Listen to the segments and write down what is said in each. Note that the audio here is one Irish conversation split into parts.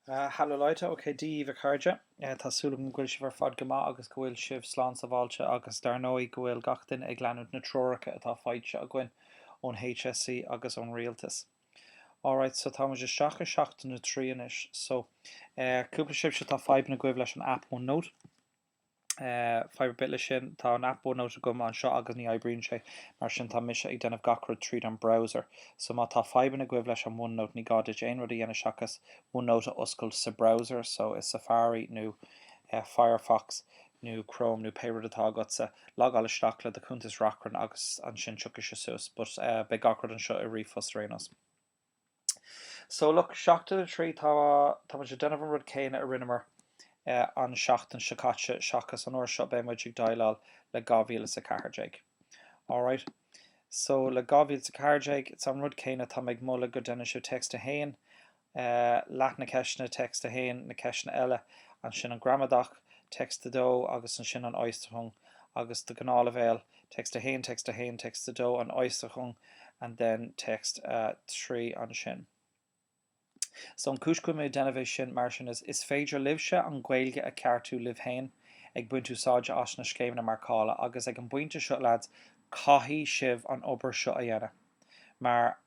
Hallo Leute, ok Dia daoibh a chairde, tá súil agam go bhfuil sibh ar fad go maith agus go bhfuil sibh slán sábháilte agus dar ndóigh go bhfuil gach duine ag leanúint na treoracha atá faighte againn ón HSE agus ón rialtas. Alright, so tá muid isteach i seachtain a trí anois, so cúpla sibhse tá fadhbanna agaibh leis an app OneNote, Fadhb ar bith leis sin? Tá an aip OneNote agam anseo agus ní oibríonn sé, mar sin tá mise ag déanamh gach rud tríd an browser. So má tá fadhbanna agaibh leis an OneNote ní gá duit aon rud a dhéanamh seachas OneNote a oscailt sa browser, so i Safari nó Firefox nó Chrome nó pé rud atá agatsa. Logáil isteach le do chuntas Reachrann agus ansin tiocfaidh sé suas, but beidh gach rud anseo i ríomhphost ar aon nós. So, look, seachtain a trí, tá, tá muid ag déanamh an rud céanna a rinneamar an seachtain seo caite seachas an uair seo beidh muid ag déileáil le dhá mhíle is a ceathair déag. Alright. So, le dhá mhíle is a ceathair déag, it's an rud céanna, tá mé ag moladh go déanann sibh text a haon, leath na ceisteanna, text a haon, na ceisteanna eile, ansin an ghramadach, text a dó, agus ansin an Äußerung agus do ghnáthleibhéal, text 1, text 1, text 2, an Äußerung, and then text 3 ansin. So an cúis go bhfuil mé ag déanamh é sin mar sin is is féidir libhse an Ghaeilge a cheartú libh féin ag baint úsáide as na scéimeanna marcála agus ag an bpointe seo, lads, caithfidh sibh an obair seo a dhéanamh mar.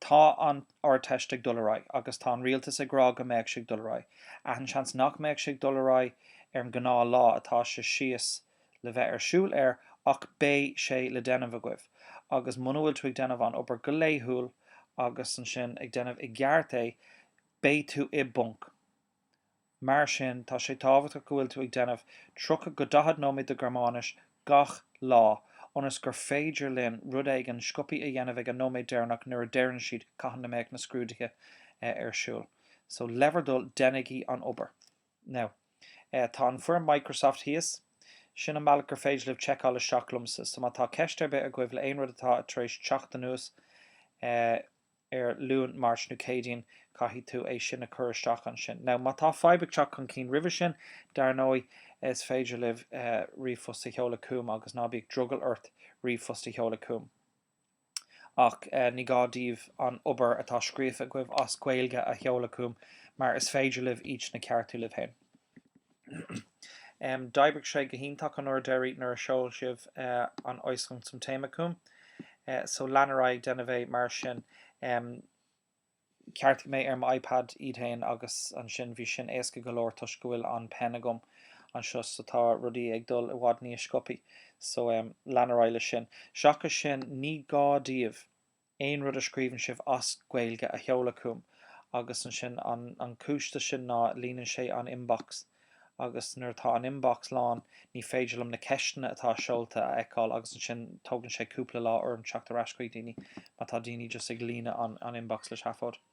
Tá an Ardteist ag dul ar aghaidh agus tá an rialtas ag rá go mbeadh sé ag dul ar aghaidh. Ach an-seans nach mbeadh sé ag dul ar aghaidh ar an gnáth lá atá sé síos le bheith ar siúl air ach beidh sé le déanamh agaibh agus muna bhfuil tú ag déanamh an obair go laethúil agus ansin ag déanamh i gceart é beidh tú i bponc Mar sin, tá sé tábhachtach go bhfuil tú ag déanamh 30-40 nóiméad de Ghearmáinis gach lá, ionas gur féidir linn rud éigin sciobthaí a dhéanamh ag an nóiméad deireanach nuair a deireann siad cathain a mbeadh na scrúduithe ar siúl. So, le bhur dtoil, déanaigí an obair! Now, tá an foirm Microsoft thíos. Sin an bealach gur féidir libh checkáil isteach liomsa. So, má tá ceist ar bith agaibh le aon rud atá tar éis teacht anuas, eh, ar Luan, Máirt nó Céadaoin, caithfidh tú é sin a chur isteach ansin. Now, má tá fadhb ag teacht chun cinn roimhe sin, dar ndóigh, is féidir libh ríomhphost a sheoladh chugam agus ná bíodh drogall ort ríomhphost a sheoladh chugam. Ach ní gá daoibh an obair atá scríofa agaibh as Gaeilge a sheoladh chugam mar is féidir libh iad sin a cheartú libh féin. D'oibrigh sé go hiontach an uair deiridh nuair a sheol sibh an Äußerung zum Thema chugam, so lean ar aghaidh ag déanamh é mar sin. Cheartaigh mé ar m'iPad iad féin agus ansin bhí sin éasca go leor toisc go bhfuil an pen agam anseo so tá rudaí ag dul i bhfad níos sciobthaí, so lean ar aghaidh leis sin. Seachas sin ní gá daoibh aon rud a scríobhann sibh as Gaeilge a sheoladh chugam agus ansin an an cúis dó sin ná líonann sé an inbox agus nuair atá an inbox lán ní féidir liom na ceisteanna atá seolta a fheiceáil agus ansin tógann sé cúpla lá orm teacht ar ais chuig daoine má tá daoine just ag líonadh an an inbox le seafóid.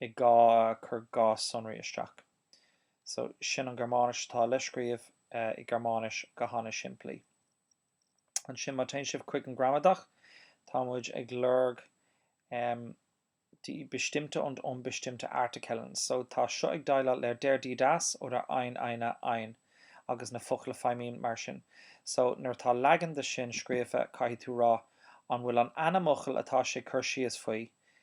i gá chur gá sonraí isteach. So, sin an Gearmáinis atá le scríobh i Gearmáinis go h-ana simplí. Ansin má téann sibh chuig an gramadach, tá muid ag lorg die bestimmte und unbestimmte Artikellen. So, tá seo ag déileáil le der, die, das, oder ein, eine, ein agus na focla feidhmí mar sin. So, nuair atá leagan dó sin scríofa, caithfidh tú rá an bhfuil an ainmfhocal atá sé cur síos faoi,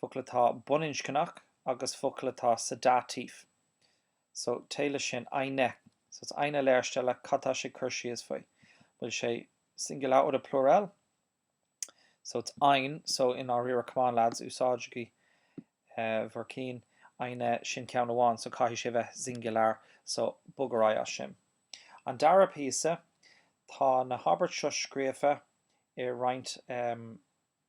focal atá baininscneach agus focal atá sa Dativ so téigh leis sin, eine, so it's eine Lehrstelle cad tá sé ag cur síos faoi? bhfuil sé singular oder plural? so it's ein so, einer, really come on lads úsáidigí bhur cinn eine sin ceann amháin so caithfidh sé bheith singular so bog ar aghaidh as sin. An dara píosa, tá na habairt seo scríofa i roinnt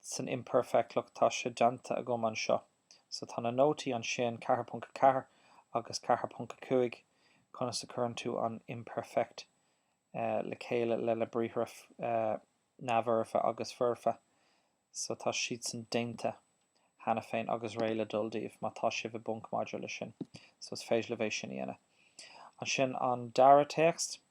san imperfect look tá sé deanta agam anseo so tá na nótaí ansin, 4.4 agus 4.5 conas a cuireann tú an imperfect le chéile leis na briathra neamhfhoirfe agus foirfe so tá siadsan déanta cheana féin agus réidh le dul daoibh má tá sibh i bponc maidir le sin so is féidir libh é sin a dhéanamh ansin an dara téacs.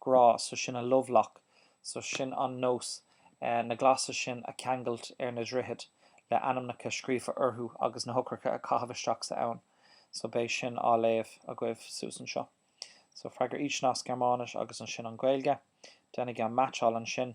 grá, so sin a love lock, so sin an nós, na glasa sin a cheangailt ar na droichid le ainmneacha scríofa orthu agus na heochracha a chaitheamh isteach sa abhainn, so beidh sin á léamh agaibh suas anseo. So freagair insan Gearmáinis agus ansin an Ghaeilge. Déanaigí an meaitseáil ansin.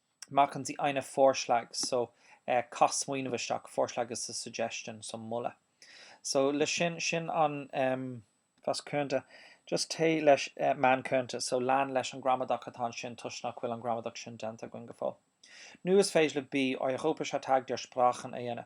Machen Sie einen Vorschlag so caith smaoineamh isteach Vorschlag is a suggestion so moladh so le sin sin an was könnte just téigh leis man könnte so lean leis an gramadach atá ansin toisc nach bhfuil an gramadach sin déanta againn go fóill. Nó is féidir libh Europäischer Tag der Sprachen a dhéanamh.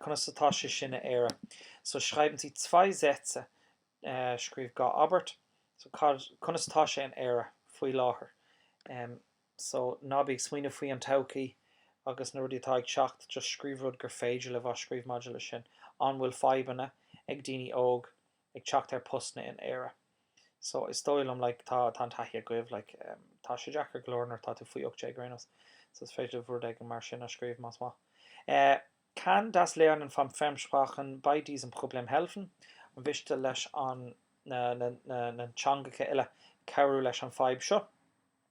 Conas atá sé sin in Éire? So schreiben Sie zwei Sätze, Scríobh dhá abairt. So, conas atá sé in Éire faoi láthair? So ná bí ag smaoineamh faoi an todhchaí agus na rudaí atá ag teacht, just scríobh rud gur féidir libh a scríobh maidir leis sin. An bhfuil fadhbanna ag daoine óg ag teacht ar postanna in Éire so is dóigh liom like tá tá an taithí agaibh like em tá sé deacair go leor nuair atá tú faoi 18 ar aon nós so is féidir libh rud éigin mar sin a scríobh más maith, eh, kann das Lernen von Fremdsprachen bei diesem Problem helfen? an mhiste leis an na na na na teangacha eile cabhrú leis an fadhb seo?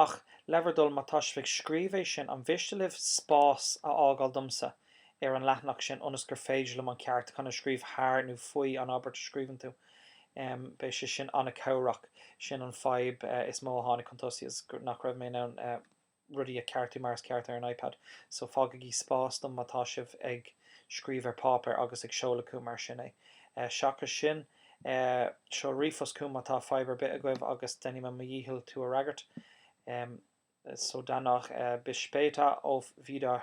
Ach, le bhur dtoil, má tá sibh ag scríobh é sin, an mhiste libh spás a fhágáil domsa ar an leathanach sin ionas gur féidir liom an ceartúchán a scríobh thar nó faoi an abairt a scríobhann tú? Beidh sé sin an-chabhrach. Sin an fadhb is mó a tháinig chun tosaigh is nach raibh mé in ann rudaí a cheartú mar is ceart ar an iPad. So, fágaigí spás dom má tá sibh ag scríobh ar páipéar agus ag seoladh chugam mar sin é. Seachas sin. Eh, seol ríomhphost chúm má tá fadhb ar bith agaibh agus déanfaidh mé mo dhícheall tú a fhreagairt. Eh, so danach eh, bis später, auf Wieder